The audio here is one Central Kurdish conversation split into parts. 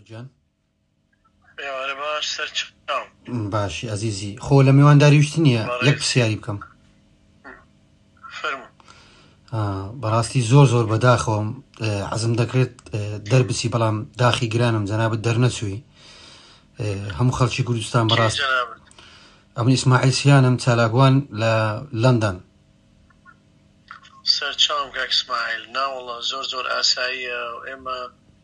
جان ئێوارە باش سەر چاو باشی ئەزیزی خۆ لە میوانداری وشت نییە بەڕێز. یەک پرسیاری بکەم فەرموو آه، بەڕاستی زۆر زۆر بەداخەوەم آه، عەزم دەکرێت آه، دەربچی بەڵام داخی گرانم جەنابەت دەرنەچووی آه، هەموو خەڵکی کوردستان کێ بەڕاست جەنابت ئەمن ئیسماعیل سیانم چالاکوان لە لەندەن سەر چاوم کاک اسماعیل ناوەڵا زۆر زۆر ئاساییە و ئێمە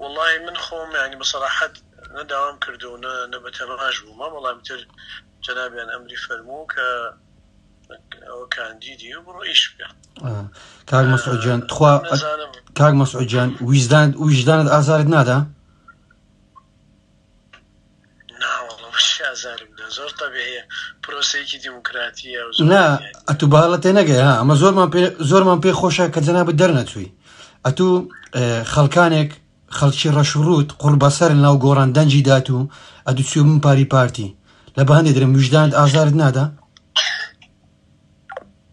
وەڵاهی من خۆم یانی بە سەراحەت نە داوام کردو نە نە بە تەماش بوومە بەڵام تر جەنابیان ئەمری فەرموو کە ئەوە کاندیدی و بڕۆ ئیش بکە آه. کاک مەسعود جان تخوا نازانم کاک مەسعود جان ویژدان ویژدانت ئازارت نادا نا وەڵا بەشی ئازارم دا زۆر تەبیعیە پرۆسەیەکی دیموکراتیە و زۆر نا ئەزیەت. ئەتوو باڵە تێ نەگەی ها ئەمە زۆرمان پێ زۆرمان پێ خۆشە کە جەنابت دەرنەچووی ئەتوو اه، خەڵکانێک خەڵکی ڕەش و ڕووت قوڕ بەسەر ناو گۆڕان دەنجی دات و ئەتوو چوو من پاری پارتی لە بەهندێ درم ویژدانت ئازارت نادا